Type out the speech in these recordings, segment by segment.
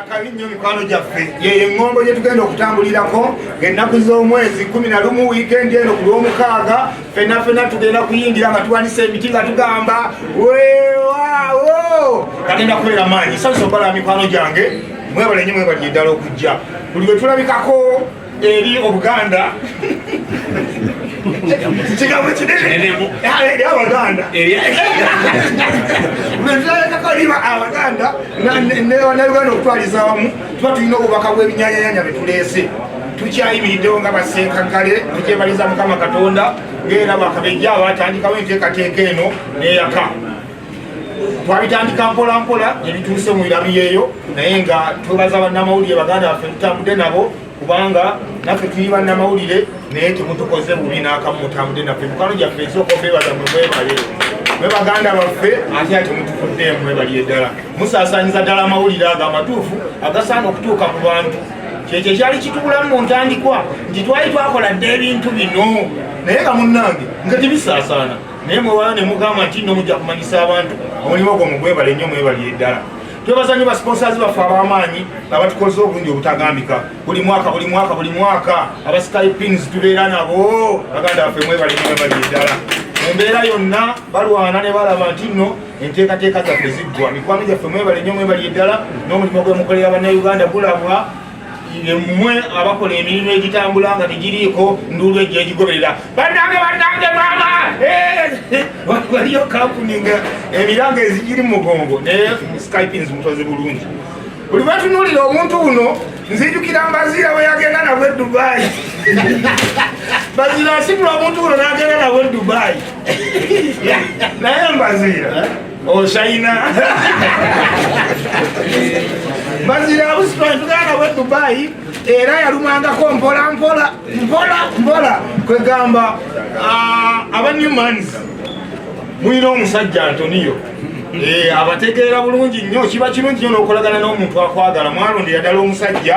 akabi nnyo mikwano gyaffe yeyo eŋŋombo gye tugenda okutambulirako ng'ennaku z'omwezi kumi na lumu wiikendi eno ku lw'omukaaga fenna fenna tugenda kuyingira nga tuwanisa emiti nga tugamba weewaawo kagenda kubeera maanyi sanisa okubala mikwano gyange mwebale nnyo mwebalire ddala okujja buli bwe tulabikako eri obuganda kigambo kinene eri abaganda netulabekako liba abaganda nauganda okutwaliza wamu tuba tulina obubaka bwebinyanyanya betuleese tukyayimiriddewo nga basenkaggale tukyebaliza mukama katonda ngaera bakabejja abatandikawo enteekateeka eno neyaka twabitandika mpola mpola nebituuse mu irabi yeeyo naye nga twebaza bannamawulire baganda baffe tutambudde nabo kubanga naffe tuli bannamawulire naye temutukoze bubi n'akamu mutambudde naffe mukano gyaffe esooka okwebaza mwe mwebale mwe baganda baffe ate ate mutukuddemu mwebaliye ddala musaasanyiza ddala amawulire ago amatuufu agasaana okutuuka ku bantu kyekyo kyali kitubulamu mu ntandikwa nti twali twakola dda ebintu bino naye nga munnange nga tibisaasaana naye mwewala ne mugamba nti nno mujja kumanyisa abantu omulimu ogwo mugwebale nnyo mwebalire ddala twebaza nnyo basponsazi baffe ab'amaanyi abatukoze obulungi obutagambika buli mwaka buli mwaka buli mwaka abasikayi pins tubeera nabo baganda baffe mwebale nyo mwebalire ddala mu mbeera yonna balwana ne balaba nti nno enteekateeka zaffe ziggwa mikwano gyaffe mwebale nnyo mwebalire ddala n'omulimu gwe mukolera bannauganda gulabwa mmwe abakola emirimu egitambula nga tegiriiko nduulu ejja egigoberera banange banange maama eh! waliyo kampuni nga emiranga ezigiri mu mugongo naye skypins mutozi bulungi buli bwetunuulira omuntu uno nzijukira mbaziira bwe yagenda nabwe e dubayi baziira asibula omuntu uno nagenda nabwe e dubayi naye mbaziira Oshayina mazira abusitwani tuganda bwe Dubai era yalumangako mpola mpola mpola mpola kwegamba ah, aba Newmans mulina omusajja Antonio eh, abategeera bulungi nnyo kiba kirungi nyo n'okolagana n'omuntu akwagala mwalondera ddala omusajja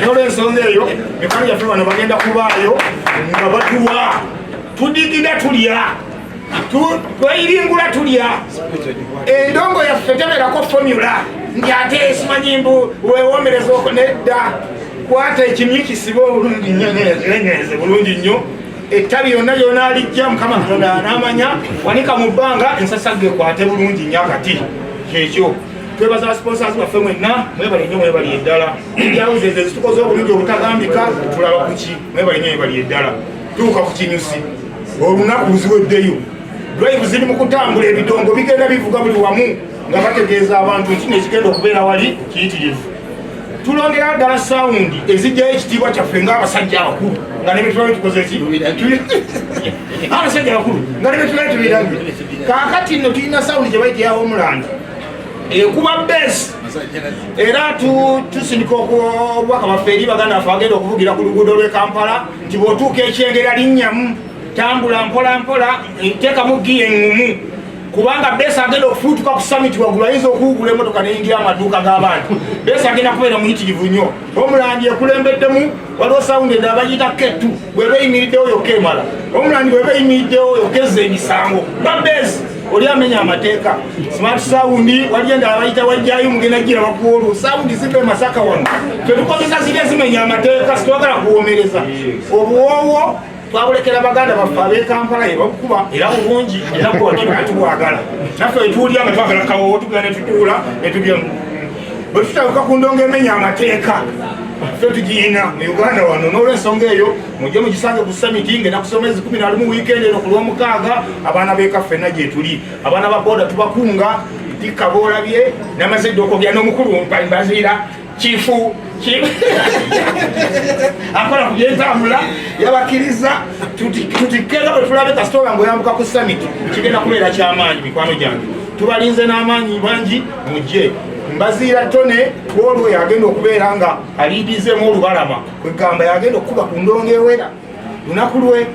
nolwensonga eyo mikwano gyaffe bano bagenda kubaayo nga batuwa tudigida tulya tweyiringula tulya endongo yaffe teberako fomula nti ate esimanyi mbu wewomereza oko nedda kwata ekimyu kisibe obulungi nyo nenyereze bulungi nnyo ettabi yonna lyona alijja mukama katonda anamanya wanika mu bbanga ensasagge kwate bulungi nyo akati kyekyo twebaza sponsors baffe mwenna mwebale nyo mwebali eddala enjawuzi ezo ezitukoze obulungi obutagambika tulaba kuki naye balina ebali eddala tuuka ku kinyusi olunaku luziweddeyo drive ziri mu kutambula ebidongo bigenda bivuga buli wamu nga bategeeza abantu nti nekigenda okubeera wali kiyitirivu tulondera ddala sawundi ezijjayo ekitiibwa kyaffe ngaabasajja abakulu nga nebetulabe tukoze ki abasajja abakulu nga nebetulabe tubirabye kakati no tulina sawundi gyebaiteyawo omulanda ekuba besi era tusindika obubaka baffe eri baganda baffe bagenda okuvugira ku luguudo lwe kampala nti bwotuuka ekyengera linnyamu tambula mpola mpola teekamu giya eŋŋumu kubanga besi agenda okufuutuka ku samiti waggulu ayinza okuwugula emotoka neyingira amaduuka g'abantu besi agenda kubeera muyitirivu nnyo omulangi ekulembeddemu waliwo sawundi eda bagiyita ketu bweba eyimiriddewo yokka emala omulandi bweba eyimiriddewo yokka ezza emisango babes oli amenya amateeka smart sawundi waliyo endala bayita wajjayo mugenda gira bakuwa olwo sawundi ziva emasaka wano fetukozesa zirya zimenya amateeka sitwagala kuwomereza obuwoowo twabulekera baganda baffe abekampala yebakukuba era bulungi eratubwagala naffe etuulya nga twagala kawowo tugera netutuula netulya bwe tutabuka ku ndongo emenya amateeka ffe tugiyina mu uganda wano n'olwensonga eyo mujje mugisange ku samiti ngenda kusoma ezi kumi nalimu wiikendi eno ku lwomukaaga abaana beka ffenna gyetuli abaana ba boda tubakunga dikka boolabye namaze dde okogera n'omukulu mbaziira kifu akola ku byentambula yabakkiriza tutikkeeza bwe tulabe kasitoola ngaoyambuka ku summit kigenda kubeera kyamaanyi mikwano gyange tubalinze n'amaanyi bangi mujje mbaziira tone kwolwo yagenda okubeera nga aliidizemu olubalama kwegamba yagenda okukuba ku ndongo ewera lunaku lwe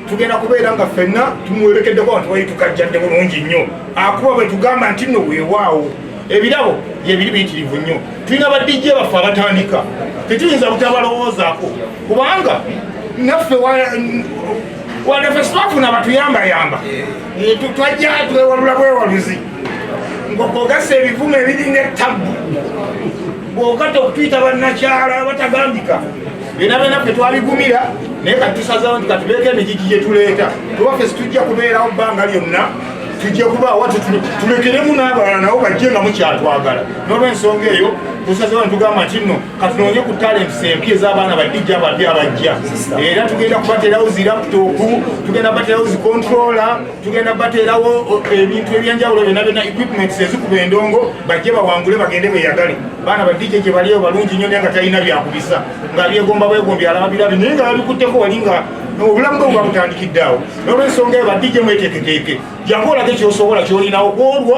tugenda kubeera nga ffenna tumwerekeddeko abantu bali tukajjadde bulungi nnyo akuba bwe tugamba nti nno weewaawo ebirabo byebiri biyitirivu nnyo tulina badijje baffe abatandika tetuyinza butabalowoozaako kubanga naffe wanafe sitwafuna batuyambayamba eh, twajja twewalula bwewaluzi ngokogasa ebivumu ebiringa ettabbu bwokata okutuyita bannakyala abatagambika bena bena ffe twaligumira naye kati tusazawo nti katubeeko emigigi gye tuleeta tubaffe situjja kubeerawo bbanga lyonna tujja kuba watu tulekeremu n'abalala nabo bajje nga mukyatwagala n'olwensonga eyo tusazewo netugamba nti nno katunoonye ku talents empya ez'abaana badijja abapya abajja era tugenda kubaterawo zi laptop tugenda kubaterawo zi controller tugenda bateerawo ebintu ebyenjawulo byona byona equipments ezikuba endongo bajje bawangule bagende beyagale baana badije gye baliyo balungi nnyo naye nga talina byakubisa nga byegomba bwegombi alababirabi naye nga babikutteko wali nga obulamu bwe bwabutandikidde awo nolwensonga eyo badije mweteeketeeke jangu olage kyosobola kyolinawo kwolwo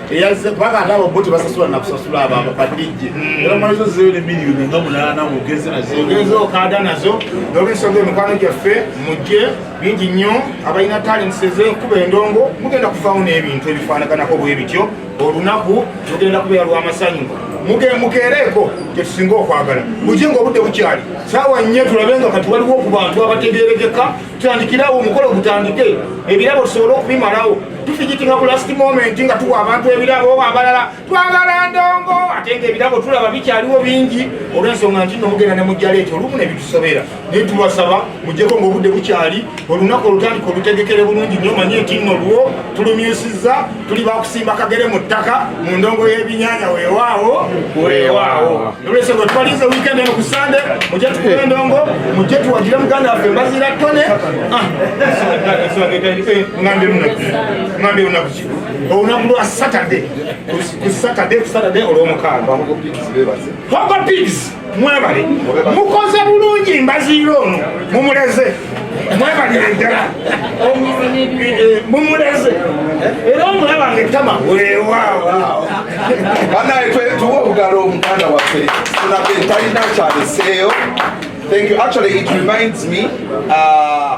eyazze kubanga ate abo bo tebasasula nakusasula abo abo kadijje hmm. era mwalizo zeyo ne miliyoni nga munaana ogeze nazoogeze okaada nazo nolwensonga emikwano gyaffe mujje bingi nnyo abalina talents ez'enkuba endongo mugenda kuvaamu n'ebintu ebifaanaganako bwe bityo olunaku lugenda kubeera lw'amasanyu mukeereeko kyetusinga okwagala mujje nga obudde bukyali saawa nnyo tulabe nga kati waliwo ku bantu abategeerekeka tutandikirawo omukolo gutandike ebirabo tusobole okubimalawo tufigitinga ku last moment nga tuwa abantu ebirabo oba abalala twagala ndongo ate nga ebirabo tulaba bikyaliwo bingi olwensonga nti nomugenda ne mujjala ekyo olumu ne bitusobera naye tubasaba mujjeko ngaobudde bukyali olunaku olutandika olutegekere bulungi nyo manye nti nno luwo tulumyusiza tuli bakusimba kagere mu ttaka mu ndongo y'ebinyanya weewaawo weewaawo nolwekyo bwe twalize weekend eno ku sande mujje tukuba endongo mujje tuwagire muganda waffe mbaziira tone ah. ngambe lunaku ki olunaku lwa satade ku satade ku satade olw'omukaaga hogo pigs mwebale mukoze bulungi mbaziira ono mumuleze mwebalire ddala mumuleze era omulaba nga ettama weewaawo banaye tuwa obugalo omuganda waffe tunabe talina kyaleseeyo thank you actually it reminds me uh,